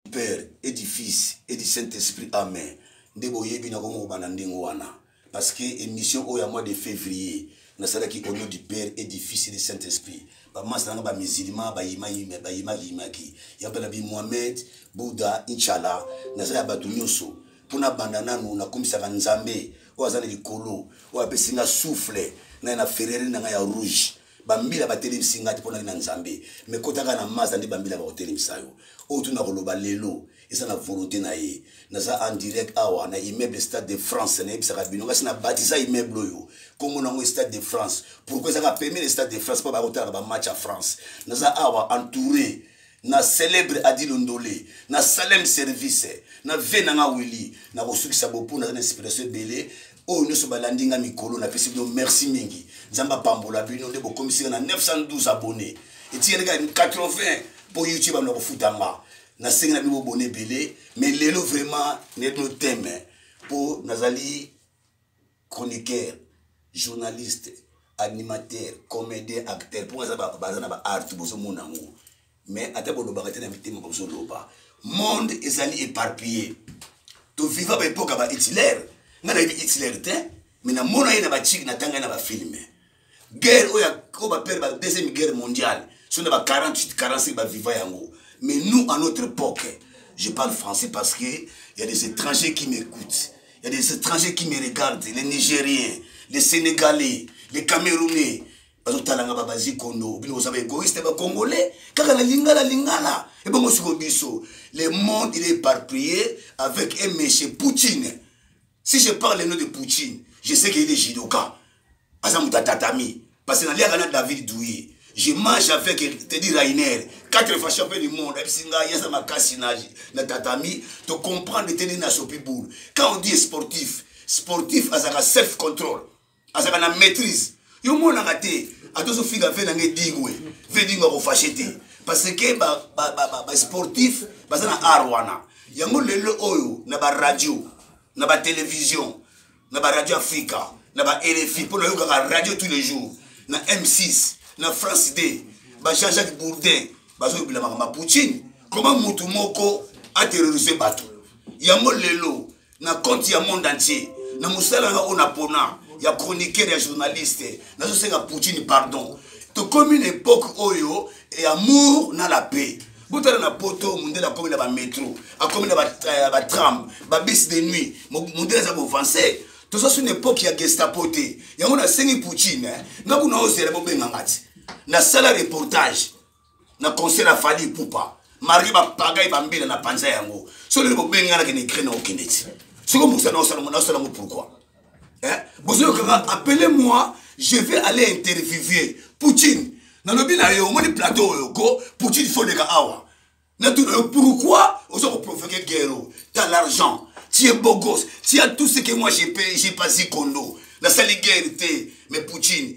père et du fils et du saint esprit amen nde boyebi nakomokoba na ndenge wana parce que émission oyo ya mois de février nasalaki au nom du père et du fils et du saint esprit bamasa nanga bamusilma bayimakiyimaki ya mpe na bi mohamed bouddha inchallah naza ya bato nyonso mpo nabanda nanu nakomisaka nzambe oyo aza na likolo oyo apesi nga souffle naye na ferreri na ngai ya rouge bambila batelemisi ngai te mpo nali na nzambe me kotaka na maza nde bambila bakotelemisa yo oyo tuna koloba lelo eza na volonté na ye naza en direct awa na immeuble stade de france nayebisaka bino ngasi na batisa immeuble oyo nkombo nango stade de france pourkoi ezaka pembe na stade de france mpo bakotalaka bamatch ya france naza awa entouré na célèbre adi londole na salem service na vie na nga wili na kosukisa bopo naza na inspiration ebele oyo nyonso balandi nga mikolo napesi bino merci mingi nzambe apambola bino nde bokomisi nga na 912 abonné etikali kaka 80 mpo youtube amina kofuta nga nasengi na bino bobona ebele mais lelo vraiment nayebi bino teme mpo nazali chroniqueur journaliste animateur comédien acteur mpo baza na baart bozomona yango mais ata bolobaka te na mitema bozoloba monde ezali éparpillé toviva baepoka ba hitler ngai nayebi hitler te mais namona ye na bachiki natanga ye na bafilme guerre oyo oyo bapere ba deuxième guerre mondiale so na ba 48 45 baviva yango mais nous à notre époque je parle français parce que y a des étrangers qui m'écoutent y a des étrangers qui me regardent les nigériens les sénégalais les camerounais bazotalanga babazi kondo bino boza baegoïste bacongolais kaka na lingala lingala ebongo siko biso le monde il est éparpillé avec un monsieur poutine si je parle le nom de poutine je sais que il est judoka aza moto ya tatami parce que naliaka na david douye je mange avec tedi rainer quatre fois champion du monde ayebisi ngai aza makasi na, na tatami to comprendre tedi na sopi boule quand on dit sportif sportif azalaka self contrôle azalaka na maîtrise yo monaka te ata ozofinga ve na ngai dingwe ve dingwe akofashe te parce que basportif baza na art wana yango lelo oyo na baradio na batelevizio na baradio afrika na ba rfi mpo nayokaka radio tous les jours na m6 na france d ba jean jacques bourdin bazoyobela makambo ya poutine koma motu moko aterrorise bato yango lelo na compte ya monde entier na mosala nanga oyo napona ya chroniqueur ya journaliste nazosenga poutine pardon tokomi na epoke oyo ya amour na la paix botala na poto mondele akomi na bametro akomi na batram eh, babisi de nuit mondele aza kovanse toza su na epoke ya gestapo te yango nasengi poutine eh, nga kuna ozela bobenganga ti nasala reportage na concert ya fali pupa marie bapagai bambila na panza yango so lelo bobengi nga nakende ukraine okende ti soko mokisa naosalango naosalango pourkoi eh? bozoyokaka appele moi je vais aller interviewer poutine nalobi na yo omoni plateau oyo ko poutine foleka awa natuna yo pourkoi oza koprovoke guerro ta l'argent tie bogos tia tout ce que moi j'ai payé j'ai pasi kondo nasali guerre te mais poutine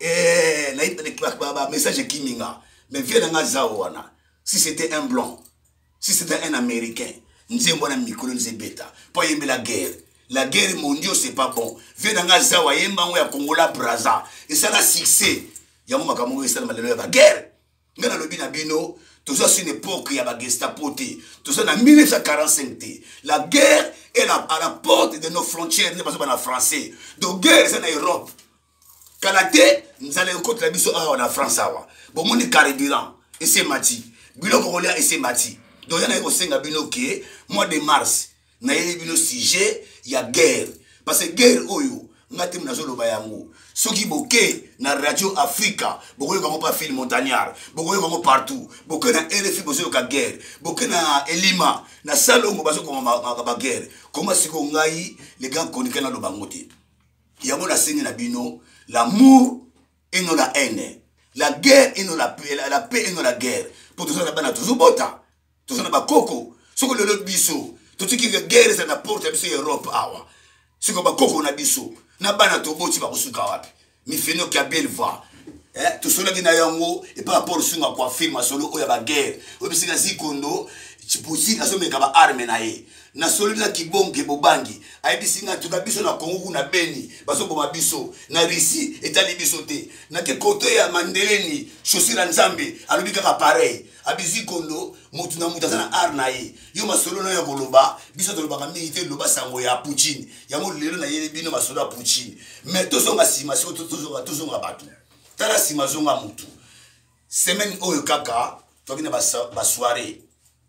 eh, na message ekimi nga mais vie na nga zao wana si c'était un blanc si c'était un américain nzembo wana mikolo nze ebeta mpo ayembela guerre la guerre mondio c'est pas bon vie na nga zao ayemba yango ya kongola braza esala succès yango makambo oyo esalama lelo ya baguerre ngai nalobi na bino toza sur une époque ya bagestapo te toza na 1945 te la guerre est à la porte de nos frontières nde bazoba na français donc guerre eza na europe kala te nzala ekotela biso awa na france awa bomoni carburant ese mati biloko kolia ese mati donc ya naye kosenga bino ke mois de mars nayeli bino sujet ya guerre parce que guerre oyo nga te nazoloba yango soki boke na radio africa bokoyoka yango pa fil montagnard bokoyoka yango partout boke na rfi bozoyoka guerre boke na elima na salongo bazokoma baguerre koma siko ngai le grand konika naloba yango te yango nasengi na bino l'amour et non la haine la guerre et non la paix, la, la paix et non la guerre mpo toza na bana tozobota toza na bakoko soko lelo biso totiki guerre eza na porte ya biso ya europe awa siko bakoko na biso na bana toboti bakosuka wapi mifenoki ya belva eh, tosolaki na yango epai apolo sunga kwa filme asolo oyo ya baguerre oyo bisika zikondo putin azomeka baarme na ye nasololi na kibonke bobangi ayebisi ngai tuka biso na kongo kuna beni bazoboma biso na russie etali biso te nake koto ya mandeleni chaussure ya nzambe alobi kaka pareil abizi kondo motu na motu aza na art na ye yo masolo nayo ya koloba biso tolobaka mingi te loba sango ya poutine yango lelo nayeli bino masolo ya poutine mais tozonga nsima siko tozonga bato tala nsima zonga motu semaine oyo kaka toki na basoiree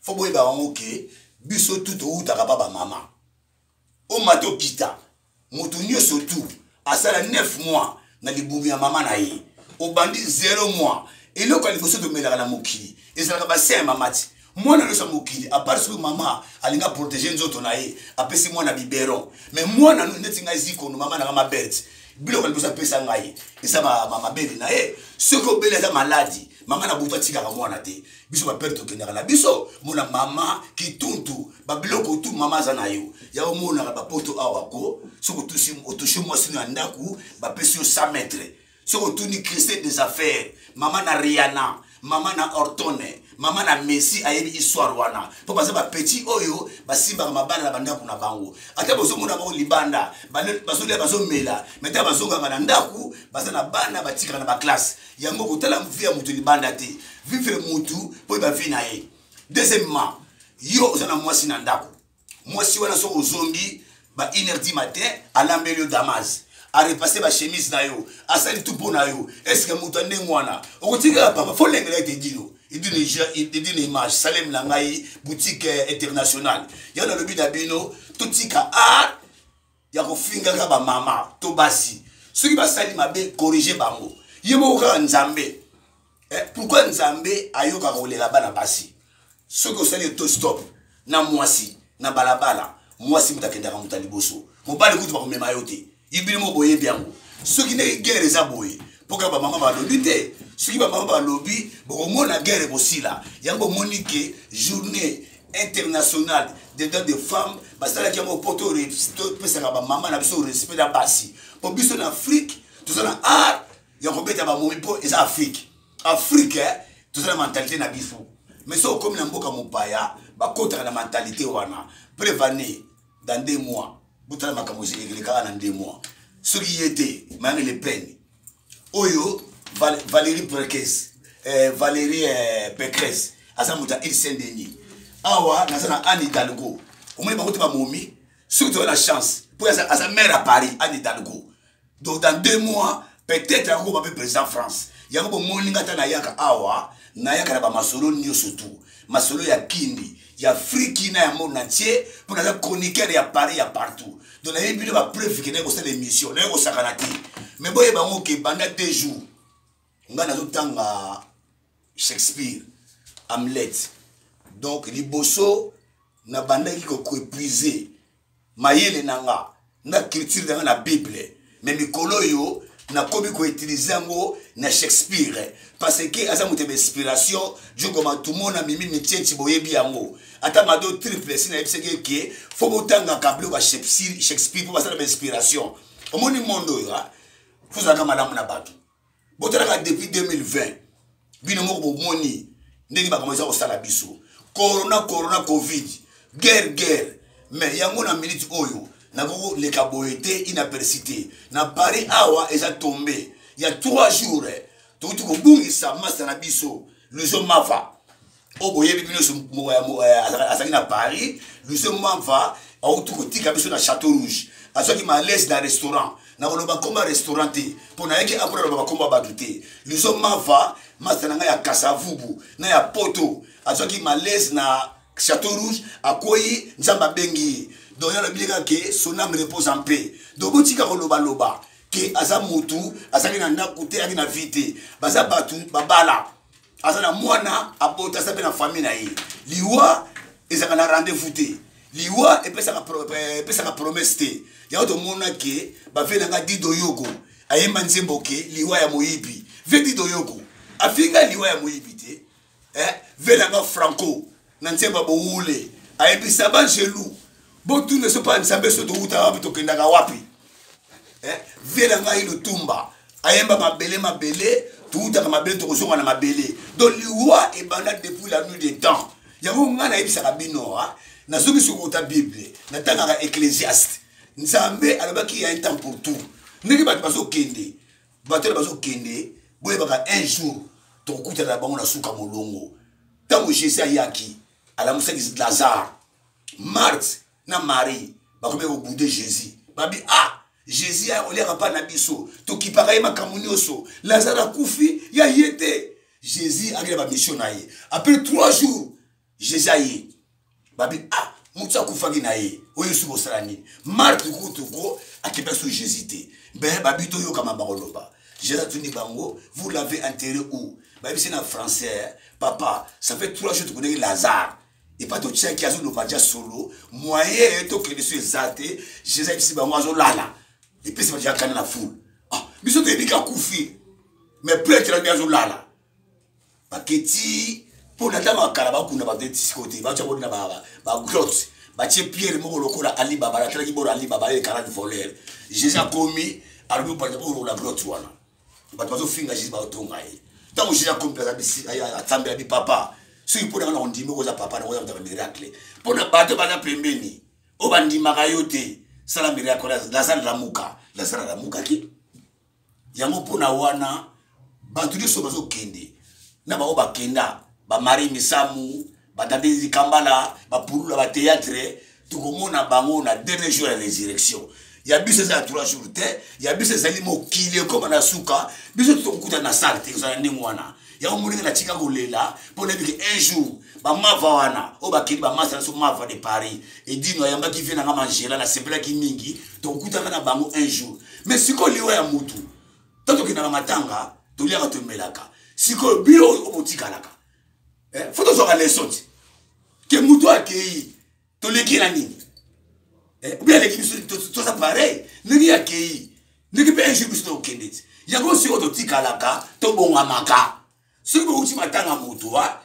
fo boyeba yango ke biso tu towutaka ba bamama omata okita moto nyonso tu asala 9 mois na libumu ya mama na ye obandi 0 mois eloko ya liboso tomelaka na mokili ezalaka basin ya mama ti mwana nyonso ya mokili apart soki mama alinga protege nzoto na ye apesi mwana biberon mais mwana neti ngai zikono mama nanga maberte biloko liboso apesa ngai eza mabele na ye soki obeli aza maladi mama na butu atikaka mwana te biso bapere tokendaka na biso mona mama kituntu babiloko tu mama aza na yo ya omonaka bapoto awa ko soki otushi mwasi no ya ndako bapesi yo 100 mètre soki otuni christe des affaires mama na riana mama na ortone mama na messi ayebi histoire wana mpo baza bapeti oyo basimbaka mabala na bandako na bango ata bozomona bango libanda bazolia bazomela meta bazongaka na ndako baza na bana batikaka na baklasse yango kotala vie ya moto libanda te vivre motu mpo yeba vie na ye deuxièmement yo oza na mwasi na ndako mwasi wana soki ozongi ba une heure du matin alambeli yo damas arepasse bachemise na yo asali tu mpo na yo eske moto ya ndenge wana okotikaka papa fo lengela ete dino edina image salem na ngai boutique eh, internationale yango nalobi na bino totika art ya kofingaka bamama to basi soki basali mabe corrige bango ye moko kaka nzambe eh, pourkui nzambe ayoka kolela bana basi soki osali to stop na mwasi na balabala mwasi moto akendaka moto ya liboso mobali kutu bakomema yo te ibili moko boyebi yango soki ndenge guerre eza boye mpo kaka bamama balobi te soki bamama balobi bokomona guerre ekosila yango omoni ke journée international des droits de femmes basalaki yango mpo topesaka bamama na biso respect na basi mpo biso na afrike toza na art ya kobeta bamomi mpo eza afrike afrike eh, toza na mentalite na biso mais soki okomi na mboka mopaya bakotaka na mentalite wana prevane dans deux mois botala makambo elekaka na deux mois soki ye te mayangele pene oyo Val valérie prekes eh, valérie eh, pekres aza moto ya ilsen deni awa naza na anne hidalgo omoni bango te bamomi soki toza na chance mpo aza, aza maire ya paris anne hidalgo donc dans deux mois peut-être akokoma mpe président france yango bomoni nga ata nayaka awa nayaka na bamasolo nyonso tu masolo ya kindi ya friki na ya monde entier mpo naza chroniqueur ya paris ya partout donc nayebi bino bapreuve ke naye kosala émission naye kosakana te mais boyeba yango ke banda deux jours ngai nazotanga shakespeare hamlet donc liboso nabandaki koepuise mayele na nga na culture na nga na bible me mikolo oyo nakomi koutilize yango na shakespeare parce que aza moto ya bainspiration jokoma tumona mimi mitieti boyebi yango ata mado triple si nayebisaki eke fo botangaka biloko ya shakespeare mpo basala bainspiration omoni mondo oyo fozalaka malamu na bato botalaka depuis 2020 bino moko bomoni ndenge makambo eza kosala biso corona corona covid guerre guerre mais yango na minute oyo nakoleka boye te inaperci te na paris awa eza tombe ya 3 jours eh, touti kobungisa masta na biso luzo mava oyo oh, boyebi bino nyonso azalaki na paris lucien mamva auti kotika biso na château rouge azwaki malaise na restaurant nakoloba nkombo ya restaurant te mpo nayaki apo naloba bakombo ya bato te lucien mamva masta na ngai ya kasavubu na ya poto azwaki malaise na château rouge akwei nzambe abengi ye donc yalobi ye kaka ke son ame repose en paix donc botika kolobaloba ke aza motu azalaki na ndako te ayaki na vie te baza bato babala aza na mwana abota aza mpe na famille na ye liwa ezalaka na rendez-vous te liwa epesaka eh, promesse te yango tomona ke bavelanga dido yoko ayemba nzembo ke liwa ya moyibi ve dido yoko afinga liwa ya moyibi te eh? velanga franco na nse ba bowule ayebisa ba jelu botuna so mpa nsambe so towutaka wapi tokendaka wapi eh, vie na ngai lutumba ayemba mabele mabele towutaka mabele tokozonga na mabele donc liwa ebanda depuis la nuit des temps yango ngai nayebisaka bino ah, nazoki sokota bible natangaka ecclésiaste nzambe alobaki ya un temps pour tout ndenge bato bazokende bato na bazokende boyebaka un jour tokokutana na bango na suka molongo ntango jésus ayaki alamusaki lazare marthe na marie bakomaki kobude jésus babi ah jésus oliaka mpa na biso tokipaka ye makambo nyonso lazare akufi ya ye te jésus akenda bamisio na ye après trois jours jésus aye babi ah moto akufaki na ye oyo esu bosala nini marke kutu ko akenda so jésus te be babi toyokama bakoloba jésus atuni bango vous l'avez enterré où bayebisi na français papa ça fait trois jours tokonaki lazare epa totiaki azoloba ja solo moyen tokende so eza te jésus ayebisi bango azolala epesi bajakana na foule ah biso toyebi kakufi mais pretre abi azolala baketi mpo na ntango ya kala bakunda baketi sikoyo te batya boni na bagrotte batie pierre moko lokola alibaba natalaki bolo alibaba ye karani voleur jésus akomi alobi opanda bolola grotte wana bato bazofinga jésus baotonga ye ntango jésus akomi mpe asambela bi papa soki mpo nanga na ondimi okoza papa nakoza motaka miracle mpo na bato baza pembeni oyo bandimaka yo te sala miracle lazare lamuka lazare lamukaki yango mpona wana bato nyonso bazokende na bango bakenda bamari misamu batandezi kambala bapulula bateatre tokomona bango na dernier jour ya résurrection ya biso eza ya trois jours te ya biso ezali mokili ekoma na suka biso tokokutana na sale te kozala ndenge wana yango moninga natika kolela mpo nayebi ke un jour bamava wana oyo bakeli bamasa na so mava de paris edino ayambaki vie nanga mangela nasepelaki mingi tokokutaka na bango un jour mais sikoyo liwa ya motu ntango tokendaka matanga toliaka tomelaka sikoyo bino oyo botikalaka eh, fo tozwaka leso ti ke motu akei toleki na nini eh, obi aleki biso toza pareil ndenge akei ndenge mpe un jour biso tokokende ti yango sikoyo totikalaka tobongamaka soki bouti matanga moto wa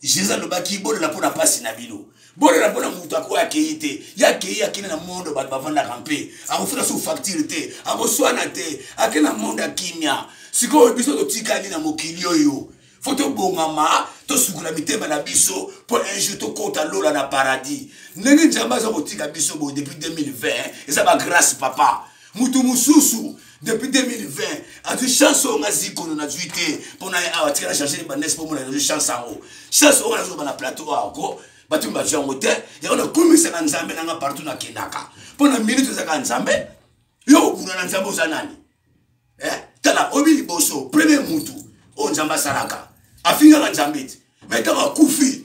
jesus alobaki bolela mpo na mpasi na bino bolela mpo na moto akoya akei te ye akei akende na mondo bato bavandaka mpe akofuna su facture te akoswana te akende na mondo ya kimia sikoyo biso totikali na mokili oyo fo tobongama tosukola mitema na biso mpo un jour tokota lola na paradis ndenge nzambe aza kotika biso boye depuis 2020 eza bagrâce papa moto mosusu depuis 2020 azwi chance oyo ngazi kono nazwi te mpo na awa tika na charge libanese mpo mona nazwi chance yango chance oyo nazoloba na plateau awa ko bato mi bazwi yango te yango nakumisaka nzambe nanga partout nakendaka mpo na minute ezaka nzambe yo obuna na nzambe oza nani eh, tala oyebi liboso premier mutu oyo nzambe asalaka afingaka nzambe te mai ntango akufi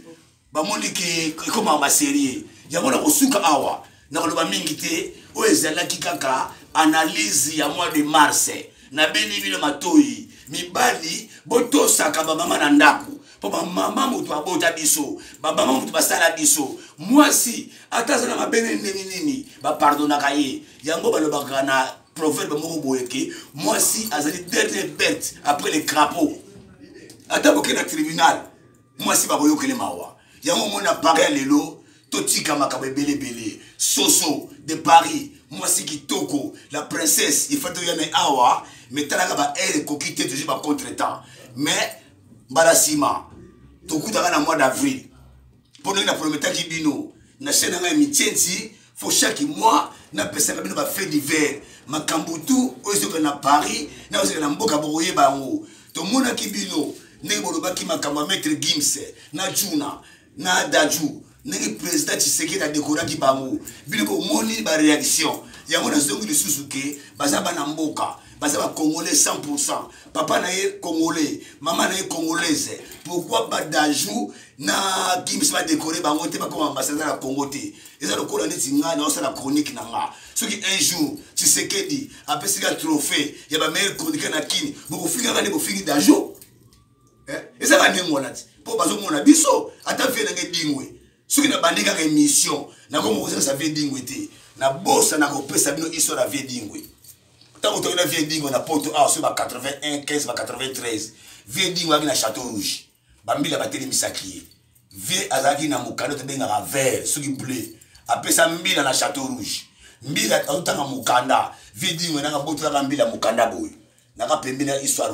bamoni ke ekomaka baserie yango na kosuka awa na koloba mingi te oyo ezalaki kaka analyse ya mois de mars nabeni bino matoyi mibali botosaka bamama na ndako mpo bamama moto abota biso bamama moto basala biso mwasi ata aza na mabene ndenge nini bapardonaka ye yango balobaka na proverbe moko boye ke mwasi azali dernier bete après le crapaud ata boke na tribunal mwasi bakoyokele mawa yango omoni na paris ya lelo totika makambo ebele ebele soso de paris mwasi kitoko la princesse ifai toya na awa me talaka baheure ekoki te tozwi bacontre temps mais mbala nsima tokutaka na mois d'avril mpo ndenge naprometaki bino na chaine na ngai mitienti fo chaque mois napesaka bino bafait divers makambo tu oyo ezoka na paris na ozoka na mboka bokoyeba yango tomonaki bino ndenge bolobaki makambo ya maître gims na juna na daju ndenge président tshisekedi adekoraki bango bino bomoni baréaction yango nazongi lisusu ke baza bana mboka baza bacongolais 100 pourcent papa na ye congolais mama na ye congolaise pourquoi badajou na kimisi badekore bango te bakoma ambassadeur ya congo te eza lokola neti ngai naosala chronique na nga soki un jour tshisekedi apesika trophée ya bameilleur chroniqueur na kini bokofingaka nde bofingi dajo eh? eza ka ndenge wana ti mpo bazomona biso ata vie na ngai dingwe soki nabandi kaka émission nakoma kosalisa vie dingwe te nabosa na kopesa bino histoire ya vie dingwe ntango toki na vie dingwe na poto awa soki ba 81 15 ba 93 vie dingwe aki na château rouge bambila batelemisaki ye vie azalaki na mokanda tobengaka vert soki bleu apesa mbila na chateau rouge mbila azotanga mokanda vie dingo nanga botolaka mbila mokanda boye naka pembeni ya histoire